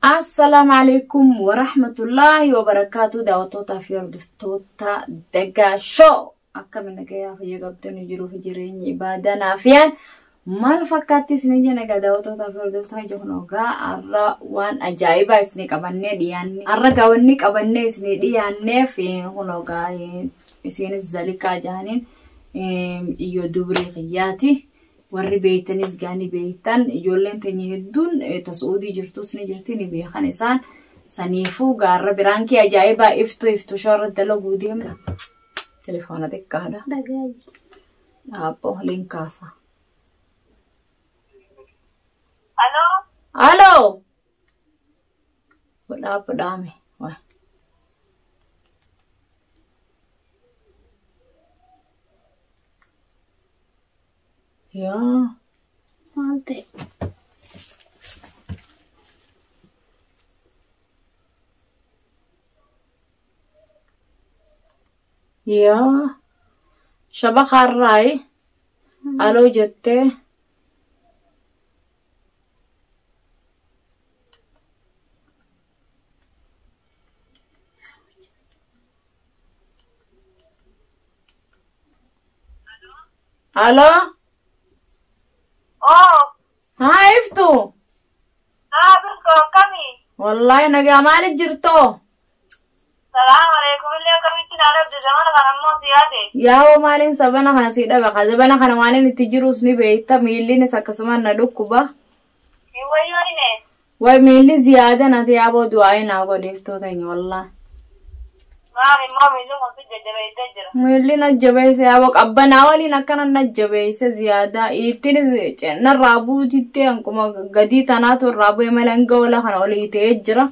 Assalaamu alaikum wa rahmatullaahi wa barakaatu daawwattootaa fi hordoftoota Daggaa Shoo akkami nagayaa fayya qabdanii jiruu fi jireenyi ibaadaa naafiyaan maal fakkaatti isin ija nagaa daawwattootaa fi hordoftoota ija kun ogaa har'a waan ajaa'ibaa isin qabannee dhiyaanne har'a gaawwanni qabannee isin dhiyaanneef kun ogaa isiinis zalikaa jaaniin iyyoo dubree kiyyaati. warri beeytanis gaa ni beeytan ijoolleen teenya hedduun ta su'uudii jirtus ni jirti ni beekan isaan saniifuu gaarra biraan kee ajaa'ibaa iftu iftu shoora dalaguu deemna telefoona xiqqaadha dhaabbo holiin kaasa. Aloo. Aloo. Dhaabbo dhaame. Yaa maal ta'e? Yaa shabakaarraayi aloo jettee Aloo. Oo, Haa iftu. naa birtu akkamii? Wallaahi nagaa maali jirtoo? Salaam alaikum illee akkamitti naa dhabde zamana kana immoo si yaade. Yaa'oo maaliin sabana kana sii dhaba? Ka zabana kana waan inni itti jirus ni beekta. Miillinis akkasumaan na dhukkuba. Way miilli ziyaada nati yaaboo du'aa'ee naa godheeftoo teenya wallaa. Miilli na jabeesse yaaboo qabbanaa waliin akkana na jabeesse ziyaadaa ittinis narraa buutitti akkuma gadii tanaatu irraa bu'e malee hanga ola kana olii ta'ee jira.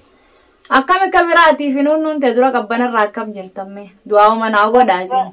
Akkam akka biraatiif hin hunnuun ta'e dura qabbanarraa akkam jirtamme du'aa'uma naa godhaa isin.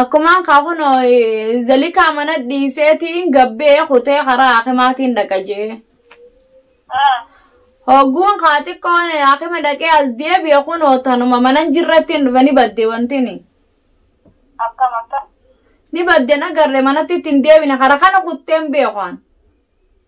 Akkumaan kaa kunoo zalikaa mana dhiiseetiin gabbee kutee karaa haakimaatiin dhaqa jee. Ah. Hogguun kaa xiqqoon haakima dhaqee as deebi'e kunoo tanuma manan jirrattiin dhufe ni badde wantini. Akkam akkam. Ni badde na garre manatti ittiin deebine kara kana kutteen beekaan.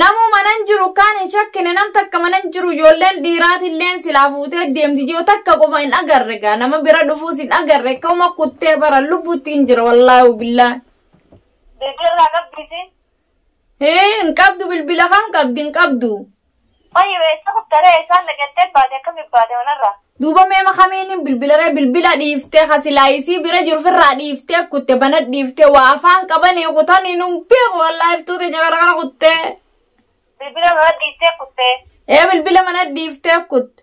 Namuu manan jiru kaan hin shakkine nam takka manan jiru ijoolleen dhiiraatilleen silaa fuutee deemti jiru takka qofa hin agarre gaa nama bira dhufuus hin agarre akkuma kuttee bara lubbuutti hin jira wallaahu billaa. Bilbila irraa qabdiisi. Hee hin qabdu bilbila kam qabdi hin qabdu. Fayu essa kuttare essa naqatte baate akkami baate manarra. Duuba mee ma kamiinin bilbilaree bilbila dhiiftee ka silaa isii bira jiru firraa dhiiftee kutte banat dhiiftee waa afaan qabanii kutanii nun beeku wallaa iftuu teenya kana kana kuttee. Bilbila mana dhiiftee kutte. Ee bilbila mana dhiiftee kutte.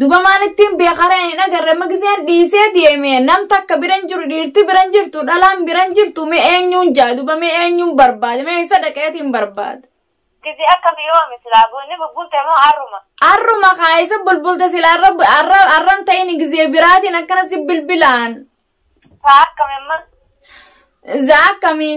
Duba maan ittiin beeka ree hin agarre amma giseen dhiisee deeme nam takka biran jiru dhiirti biran jirtu dhalaan biran jirtu mee eenyuun jaa duba mee eenyuun barbaade mee isa dhaqeetiin barbaade. Gizee akkam yoomi silaa bunni bubbulte moo arruma. Arruma kaa isa bulbulte sila arra arra arran ta'in gisee biraatiin akkana si bilbilaan. Taa akkam amma. Zaa akkamii.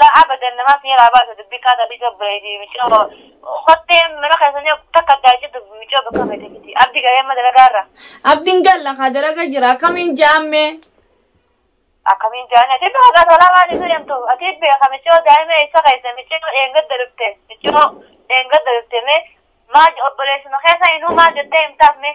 Laa abadan namaa sii raa baasa dubbii kaa tabii too bireedii micoo kottee mana keessanii takka addaa hin cittu micoo bakka feete fiti abdi galee amma dalagaa irra Abdiin galla kaa dalaga jira akkamiin jaammee. akkamiin jaani ati bakka gasolaa waan itti deemtu ati beeka micoo daa'ima isa keessa micoo dheengadda dhufte micoo dheengadda dhufte mee maal obboleessuma keessa inuu maal jettee himtaaf mee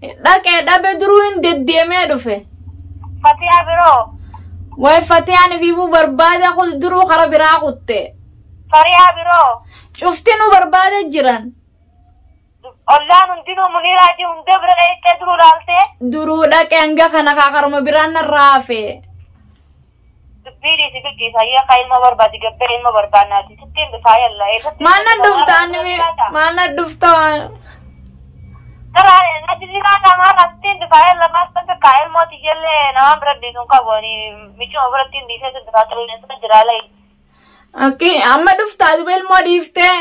Dhaqee dhabe duruu hin deddeemee dhufe. Fatiyaa biroo. Way fatiyaan ifiifuu barbaade kun duruu kara biraa kutte. Fariyaa biroo. Cufti nu barbaade jiran. Ollaan hundinuu muniiraajii hundee bira dheettee duruu laaltee. Duruu dhaqee hanga kana kaakaruma biraan narraa hafe. Dubbii dhiisi biqii saayyaa kaa ilma barbaadi gabbee ilma barbaannaati sittiin dhufaa yalla eessatti maal nan dhufta anni maal nan dhufta Karaa natti siraa qaamaa irraa sittiin dhufaa yalla maal san takkaa ilmooti jallee namaan bira dhiisuun qabu ani michuma biratti hin dhiisee sin dhufaa turuu dhiisee jiraa layi. akkii amma dhufta duba ilmoo dhiiftee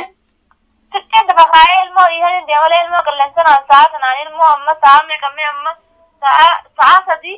Sittiin dhufa kaa ilmoo dhiisee hin deemalee ilmoo qilleensanaan sa'a sanaan ilmoo amma sa'a meeqammee amma sa'a sa'a sadii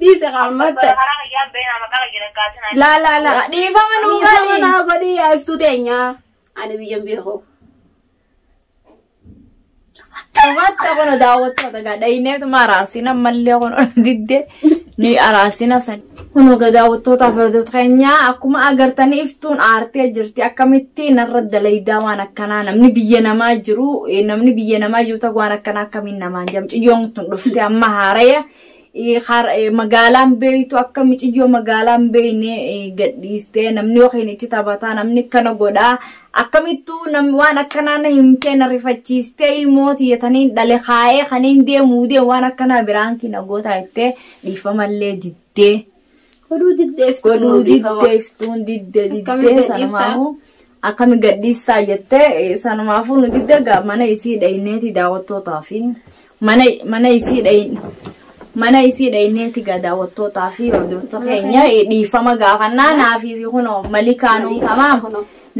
Dhiise qaammatta. Laa laa laa. Dhiifama nuu Dhiifama godhi. naa godhi yaa iftuu teenyaa. Ani biyyan beeku. Qabatta kun daawwattoota gaa dhayineetu ma araarsiina mallee kun ol diddee ni araarsiina san. Kunoo gadaawwattootaa fardoota keenyaa akkuma agartan iftuun aartee jirti akkamitti narra dalaydaa waan akkanaa namni biyya namaa jiru eh, namni biyya namaa jiru ta'u waan akkanaa akkamiin namaan jedhamu ciyyoon tun dhufte amma haaraya eh, har- eh, magaalaan beeytu akka miciyyoo magaalaan beeyne eh, gadhiiste namni yookiin itti taphataa namni akkana godhaa akkamittuu nam- waan akkanaa na himtee na rifachiistee ilmooti yetaniin dhale kaa'ee kaniin deemuu deemu waan akkanaa biraan kina gootaa jettee dhiifamallee diddee Godhuu diddeef godhuu diddee iftuun diddee Akkamiin diddee gadhiiftaa? sanumaafuu akkami gadhiistaa jettee eh, sanumaafuu nu diddee gaa mana isii dhayneeti daawwattootaa fi mana mana isii dhayin mana isii dhayneeti gaa daawwattootaa fi hordoftoota keenya eh, dhiifama gaafannaa naafii fi kunoo malikaanuu tamaam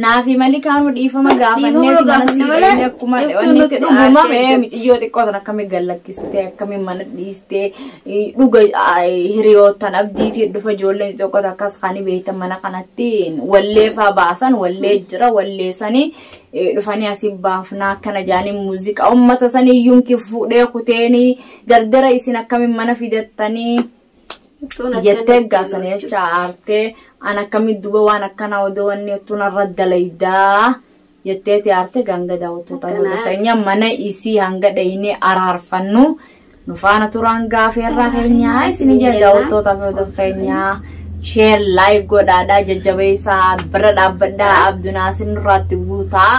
Naafi malikaanuu dhiifama gaafannee Dhiifama mana gaafanne sii malee dhaqnee akkuma iftuu wanni nutti itti dhuguma aartee mee jirti. miciyyoo xiqqoo tan akkamiin gallakkistee akkamiin mana dhiistee eh, dhuga ah, hiriyoottan abdiitiin dhufa ijoolleen xixiqqoo takka akkas kan beektan mana kanatti wallee faa baasan wallee jira wallee sanii eh, dhufanii asii baafnaa akkana jaanii muuziqaa uummata sanii yuunki fuudhee kuteenii dardara isin akkamiin mana fidattanii jettee gaasanii jecha aartee an akkamitti duba waan akkanaa odoo wanni ottuu narra dalaydaa jetteeti aartee ganga daawwattoota Akkanaati. gosa keenya mana isii hanga dhaynee araarfannu nu faana turaan gaafii irraa keenya isin ija daawwattoota fi hordoftoota keenyaa sheer laayik godhaadhaa jajjabeessaa bira dhaabbadhaa abdunaasin irraatti guutaa.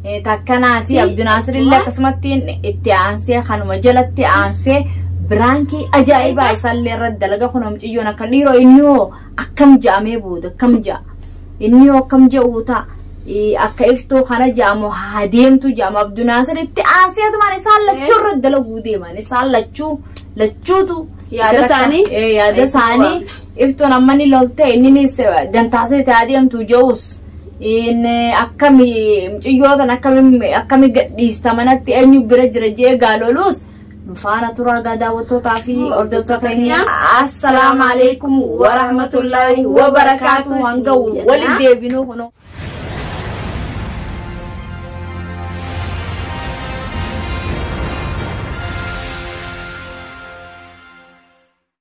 Eh, takka naati Fi abdunaasir illee akkuma- akkasumatti itti aansee kanuma jalatti aansee biraankii ajaa'ibaa isaallee irratti dalaga kun hamciyyoon akka dhiiroo inni hoo akkam ja'amee booda akkam ja'a inni hoo akkam ja'uu ta'a Eh, akka iftuu kana ja'amu haa deemtu ja'amu abdunaasir itti aansee tumaan isaan lachuu irratti dalaguu deeman isaan lachuu lachuutu Yaada itti rakka- isaanii? Eh, yaada isaanii iftuun amma ni lolte inninis dantaasee itti haa deemtu ja'us in akkami mucayyoo tan akkami akkami gadhiista manatti eenyu bira jira jee gaaloluus faana turaa gaa daawwattootaa fi hordoftoota keenya assalaamu alaikum warahmatullaahi wabarakaatu hanga walitti deebinuu kunoo.